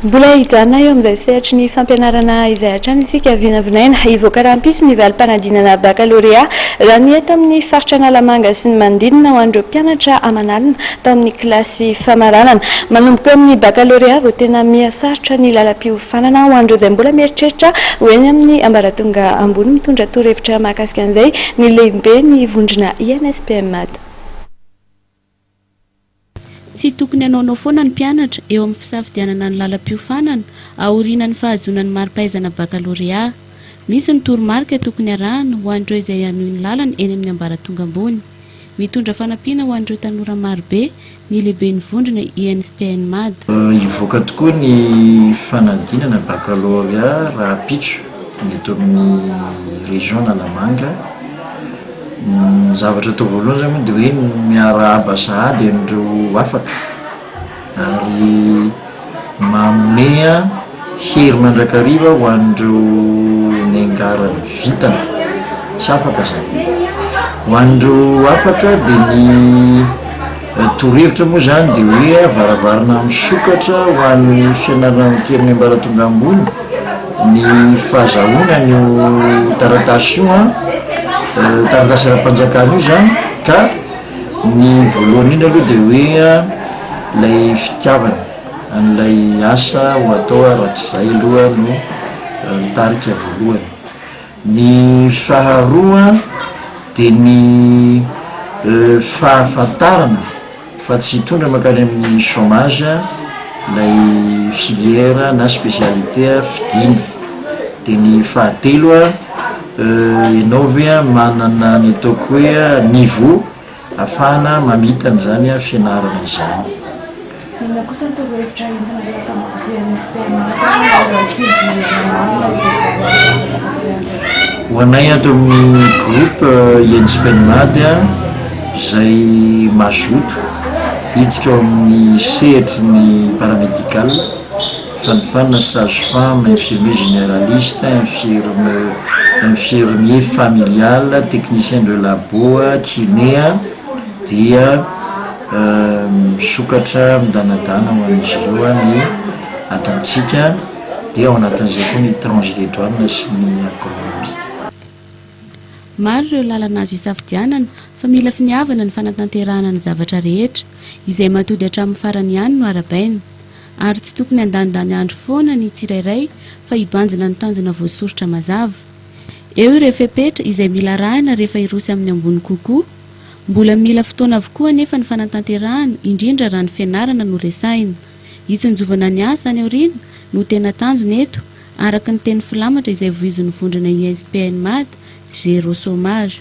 Mbola hijanona eo amin'izay sehatry ny fampianarana izay hatrany isika. Vinavinaina hivoaka rahampitso ny valim-panadinana bakalorea, raha ny eto amin'ny faritra Analamanga sy ny manodidina, ho an'ireo mpianatra aman'alina tao amin'ny kilasy famaranana. Manomboka eo amin'ny bakalorea vao tena miha sarotra ny lalam-piofanana ho an'ireo izay mbola mieritreritra ho eny amin'ny ambaratonga ambony. Mitondra torohevitra mahakasika an'izay ny lehiben'ny vondrona INSPM-Mada. Tsy tokony hanaonao foana ny mpianatra eo amin'ny fisafidianana ny lalam-piofanana aoriana ny fahazoana ny mari-pahaizana bakalorea. Misy ny toromarika tokony arahana ho an'ireo izay hanohy ny lalany eny amin'ny ambaratonga ambony. Mitondra fanampiana ho an'ireo tanora marobe ny lehiben'ny vondrona INSPN-mad. Hivoaka tokoa ny fanadinana bakalorea rahampitso. ny eto amin'ny région Analamanga. Ny zavatra atao voalohany zany moa de hoe miarahaba sahady an'ireo afaka ary manome hery mandrakariva ho an'ireo niangaran'ny vintana tsy afaka zany. Ho an'ireo afaka de ny. Ny torohevitra moa izany dia hoe varavarana misokatra ho an'ny fianarana mitia amin'ny ambaratonga ambony ny fahazahoana an'io taratasy io an, taratasy ara-panjakana io izany ka ny voalohany indrindra aloha dia hoe ilay fitiavana an'ilay asa ho atao raha tsy izay aloha no tarika voalohany. Ny faharoa dia ny fahafantarana fa tsy hitondra mankany amin'ny chômage ilay filière na spécialité fidina. Dia ny fahatelo ianao ve manana ny ataoko hoe niveau. Afahana mamita an'izany fianarana izany. Inona kosa ny torohevitra entina ilay ato amin'ny groupe MSP Amaratra na ireo ankizy manarina izay vao mahazo zaza mahafaly azy? Ho anay ato amin'ny groupe MSP Amaratra izay mazoto hiditra ao amin'ny sehatry ny paramédical, Fanofanana sage-femme, infirmier généraliste, infirme, infirmier familial, technicien de labo, kiné dia misokatra midanadana ho an'izy ireo ny atantsika dia ao anatin'izay koa ny tranche des douanes sy ny agronomie. Maro ireo lalana azo isafidianana fa mila finiavana ny fanatanterahana ny zavatra rehetra. Izay mahatody hatramin'ny farany ihany no arabaina. Ary tsy tokony handanindany andro foana ny tsirairay fa hibanjina ny tanjona voasoritra mazava. Eo ireo fepetra izay mila arahina rehefa hiroso amin'ny ambony kokoa. Mbola mila fotoana avokoa anefa ny fanatanterahana, indrindra raha ny fianarana no resahina. Hitsinjovana ny asa any aoriana no tena tanjona eto, araka ny teny filamatra izay voizin'ny vondrona ISPN Mada, Zero Chômage.